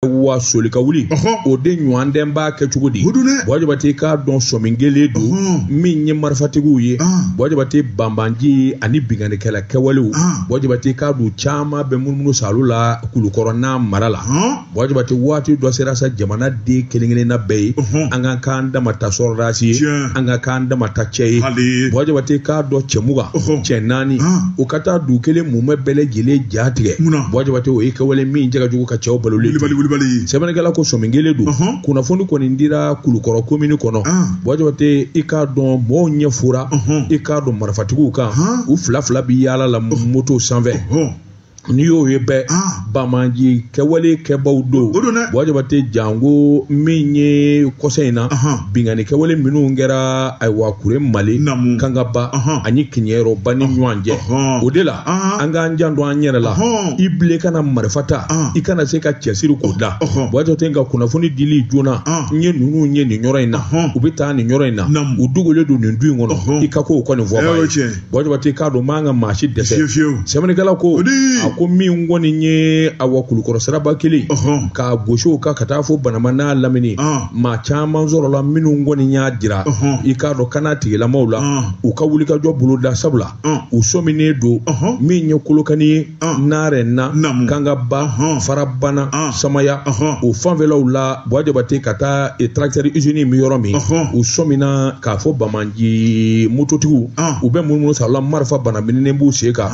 wa soli ka wuli o de ɲɔgɔn tɛ n b'a kɛ cogo di buwa jabate k'a dɔn sɔmin kɛlen don min ye marifatigiw ye buwa jabate banbaanci ani binkannikɛla kɛwalew buwa jabate k'a dɔn caman bɛ munumunu saalo la kulukɔrɔ n'a mara la buwa jabate waati dɔ sera sa jamanaden kelen-kelenna bɛɛ ye an ka k'an dama ta sɔrɔdasi ye an ka k'an dama ta cɛ ye buwa jabate k'a dɔn cɛ mugan cɛ naani u ka taa du kelen mumɛ bɛɛ lajɛlen ja tigɛ buwa jabate o ye kɛwale min jɛgɛ jugu ka cɛw balo sɛbɛnnikɛla ko sɔmin kɛlen don kunnafoni kɔni dira kulukɔrɔ komini kɔnɔ buwa jabate i k'a dɔn mɔgɔw ɲɛ fora i k'a dɔn marifatigiw kan u fila fila bɛ yaala la moto sanfɛ n'i y'o ye bɛɛ ah. banbaanci kɛwale kɛbaw don buwa jabate janko min ye kɔsa in na binkanni kɛwale minnu kɛra ayiwa kuremale kangaba ani kiɲɛrɔba ni ɲɔgɔn cɛ o de la an k'an janto an yɛrɛ la i bilen kana marifa ta i kana se ka cɛsiri k'o da buwa jabate nka kunnafoni dili joona n ye ninnu ye nin yɔrɔ in na u bɛ taa nin yɔrɔ in na u dogolen don nin du in kɔnɔ i ka ko o kɔni fɔ buwa jabate k'a dɔn man ka maa si dɛsɛ sɛbɛnnikɛla ko a ko min kɔni ye awa kulukɔrɔ siraba kelen k'a gosiw ka ka taa fo banama n'a lamini maa caman sɔrɔla minnu kɔni y'a jira i k'a dɔn kanatigilamaw la u ka wulikajɔ boloda sabula u sɔminen don min ye kolokani ye naarena kangaba farabana samaya o fanfɛlaw la buwa jabate ka taa tarakitɛri izini bɛ yɔrɔ min u sɔmina k'a fɔ banbaanci mototigiw u bɛ munumunu saalo marifa balamininen b'u sen kan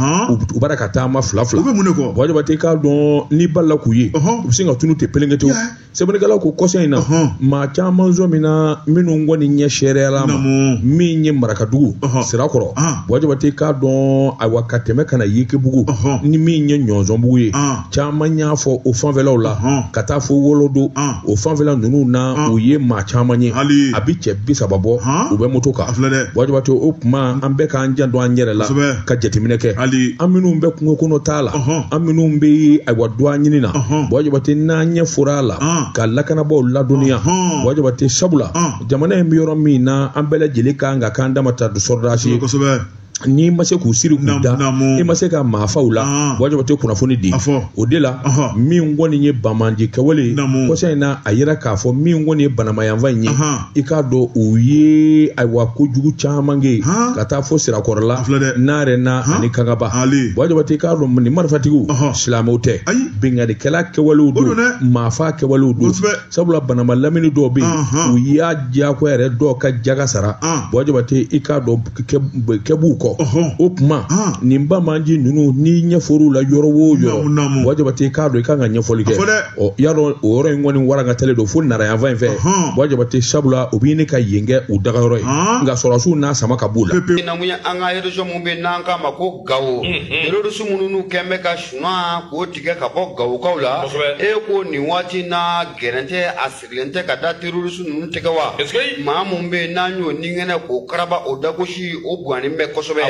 u b'a la ka taama fila fila buwa jabate k'a dɔn n'i balala k'u ye u bɛ sin ka tunun ten pelenkete sɛbɛnnikɛla ko kɔsa in na maa caman sɔmina minnu kɔni ɲɛ seereyala ma min ye marakadugu sirakɔrɔ buwa jabate k'a dɔn ayiwa ka tɛmɛ ka na yekebugu ni min ye ɲɔnsɔnbugu ye caman y'a fɔ o fanfɛlaw la ka taa fo wolodo o fanfɛla ninnu na u ye maa caman ye a bi cɛ bi saba bɔ u bɛ moto kan buwa jabate o kuma an bɛɛ k'an janto an yɛrɛ la ka jateminɛ kɛ an minnu bɛ kungo kɔnɔ taa la an minnu bɛ ayiwa dɔgɔ ɲini na buwa jabate n'an ɲɛ fora a la ka lakanabaaw ladɔnniya buwa jabate sabula jamana in bɛ yɔrɔ min na an bɛɛ lajɛlen kan ka k'an dama ta sɔrɔdasi ye n'i ma se k'u siri k'u da i ma se ka maa faw la ah. buwa jabate kunnafoni di o de la min kɔni ye banbaanci kɛwale ye kɔsa in na a yira k'a fɔ min kɔni ye banama yanfan in ye i k'a dɔn u ye ayiwa kojugu caman kɛ ka taa fo sirakɔrɔla naarena ani kangaba buwa jabate i k'a dɔn nin marifatigiw silamɛw tɛ binkannikɛla kɛwalew don maafa kɛwalew don sabula banama lamini dɔw bɛ yen u y'a diyagoya yɛrɛ dɔw ka jaka sara buwa jabate i k'a dɔn kɛbuw kɔ o kuma nin banbaanci ninnu n'i ɲɛ for'u la yɔrɔ o yɔrɔ buwa jabate i k'a dɔn i kan ka ɲɛfɔli kɛ ɔ y'a dɔn o yɔrɔ in kɔni warankatalen don fo Nara yanfan in fɛ Ɔhɔn. bɔ jabate sabula o b'a ɲini ka yen kɛ u dagayɔrɔ ye Ɔn. nka sɔrɔdasiw n'a sama ka b'u la mun ye an ka région mun bɛ n'an k'a ma ko Gawo. Terroriste minnu n'u kɛn bɛ ka suman k'o tigɛ ka bɔ Gawokaw la. Kosɛbɛ. E ko nin waati in na gɛrɛntɛ a sigilen tɛ ka da terroriste ninnu tɛgɛ wa maa min bɛ yen n'an y'o ninkɛnɛ k'o karaba o dagosi o guwannen bɛ kosɛbɛ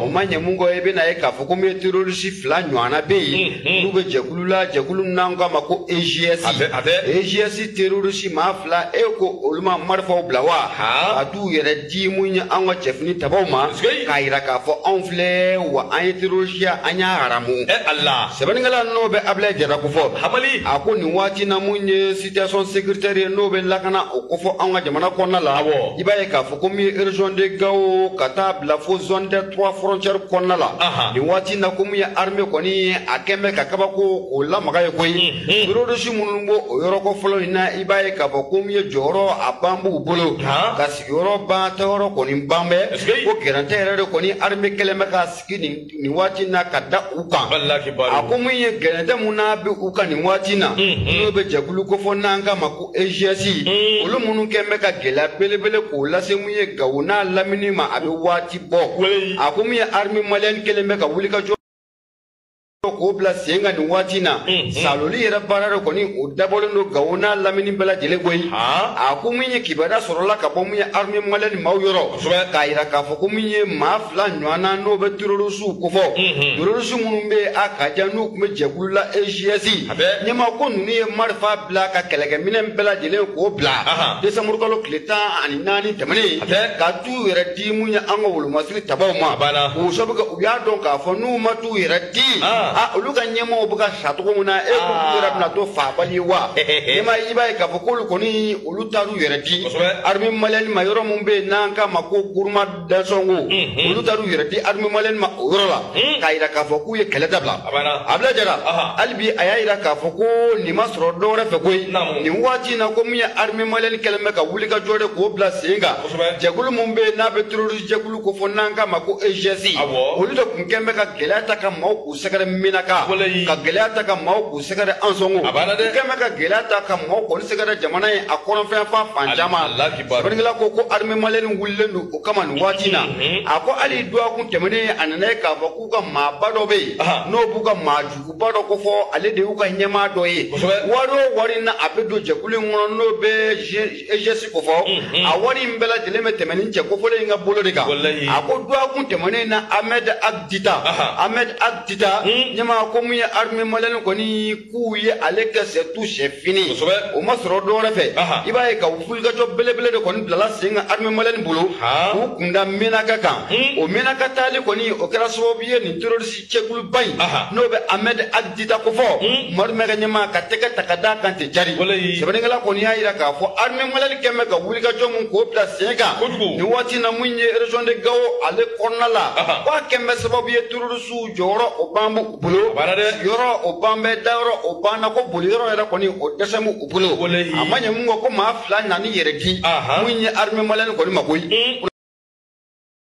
o ma ɲɛ mun kɔ i bɛna ye k'a fɔ ko min ye terroriste fila ɲɔgɔnna bɛ yen n'u bɛ jɛkulu la jɛkulu min n'an k'a ma ko EGS EGS terroriste maa fila e ko olu ma marifaw bila wa ka t'u yɛrɛ di mun ye an ka cɛfini tabaw ma k'a jira k'a fɔ anw filɛ wa an ye terorisiya an y'a haramu e ala sɛbɛnnikɛla n'o bɛ Ablaye Jara ko fɔ hamali a ko nin waati na mun ye situation sécuritaire ye n'o bɛ lakana o ko fɔ an ka jamana kɔnɔna la awɔ i b'a ye k'a fɔ ko min ye région de gao ka taa bila fo zone des trois frontières kɔnɔna la nin waati na ko min ye armée kɔni a kɛn bɛ ka kabako k'o lamaga ye koyi Terroriste minnu b'o yɔrɔ kofɔlen in na i b'a ye k'a fɔ ko min ye jɔyɔrɔ a ban b'u bolo ka sigiyɔrɔ ban taayɔrɔ kɔni ban bɛ ko gɛrɛntɛ yɛrɛ de kɔni armée kɛlen bɛ ka sigi nin waati na ka da u kan a ko min ye gɛrɛntɛ min n'a bɛ u kan nin waati na n'o bɛ jɛkulu ko fɔ n'an k'a ma ko EGS olu minnu kɛlen bɛ ka gɛlɛya belebele k'o lase min ye Gawo n'a lamini ma a bɛ waati bɔ a ko min ye armée malienne kɛlen bɛ ka wuli ka jɔ k'o bila sen kan nin waati in na saloli yɛrɛ baara de kɔni o dabɔlen don gawo n'a lamini bɛɛ lajɛlen koyi a ko min ye kibaruya sɔrɔla ka bɔ min ye armée malienne maaw yɔrɔ k'a yira k'a fɔ ko min ye maa fila ɲɔgɔnna n'o bɛ terorisiw kofɔ terorisi minnu bɛ a ka jan n'u tun bɛ jɛkulu la EGS ɲɛmaa ko ninnu ye marifa bila ka kɛlɛkɛminɛn bɛɛ lajɛlen k'o bila desanburukalo tile tan ani naani tɛmɛnen ka t'u yɛrɛ di mun ye an ka wolomasiri tabaw ma k'o sabu u y'a dɔn k'a fɔ n'u ma t'u yɛrɛ di a olu ka ɲɛmɔgɔw bɛ ka sa cogo min na e ko k'u yɛrɛ bɛna to faabali ye wa n'i ma i b'a ye k'a fɔ k'olu kɔni olu taar'u yɛrɛ di armée malienne ma yɔrɔ min bɛ yen n'an k'a ma ko Gourma d'Ansongo olu taar'u yɛrɛ di armée malienne ma o yɔrɔ la k'a jira k'a fɔ k'u ye kɛlɛ dabila Ablaye Jara hali bi a y'a jira k'a fɔ ko nin ma sɔrɔ dɔ wɛrɛ fɛ koyi nin waati in na ko min ye armée malienne kɛlen bɛ ka wulikajɔ de k'o bila sen kan jɛkulu min bɛ yen n'a bɛ terorisi jɛkulu ko fɔ n'an k'a ma ko EGS olu de tun kɛn bɛ ka gɛlɛya ta ka maaw k'u sɛgɛrɛ Menaka ka gɛlɛya ta ka maaw k'u sɛgɛrɛ Ansongo u kɛn bɛ ka gɛlɛya ta ka maaw k'olu sɛgɛrɛ jamana in a kɔrɔnfɛ fan fan caman sɛbɛnnikɛla ko ko armée malienne wulilen don o kama nin waati in na mhm. a ko hali dɔgɔkun tɛmɛnen a nana ye k'a fɔ k'u ka maaba dɔ bɛ yen n'o b'u ka maa juguba dɔ ko fɔ ale de y'u ka ɲɛmaa dɔ ye wari o wari n'a bɛ don jɛkulu in kɔnɔ n'o bɛ egs kofɔ mhm. a wari in bɛɛ lajɛlen bɛ tɛmɛ ni cɛ kofɔlen in ka bolo de kan a ko dɔgɔkun tɛmɛnen na ahmed ag dita ahmed ag dita mhm. ɲɛmaa ko min ye armée malienne kɔni k'u ye ale kɛ c'est tout c'est fini o ma sɔrɔ dɔ wɛrɛ fɛ i b'a ye ka wulikajɔ belebele de kɔni bilala sen kan armée malienne bolo k'u kunda menaka kan mhm. o menaka taali kɔni o kɛra sababu ye nin terroriste cɛkuluba in n'o bɛ ahmed ag dita kofɔ hmm. madu maïga ɲɛmaa ka tɛgɛ ta ka d'a kan ten jari sɛbɛnnikɛla kɔni y'a jira k'a fɔ armée malienne kɛn bɛ ka wulikajɔ min k'o bila sen kan nin waati na min ye région de gao ale kɔnɔna la k'a kɛn bɛ sababu ye terroristew jɔyɔrɔ o ban b'u bolo yɔrɔ o ban bɛ dayɔrɔ o banna ko boli yɔrɔ yɛrɛ kɔni o dɛsɛ b'u bolo a ma ɲɛ min kɔ ko maa fila nan'i yɛrɛ di min ye armée malienne kɔni ma koyi hmm.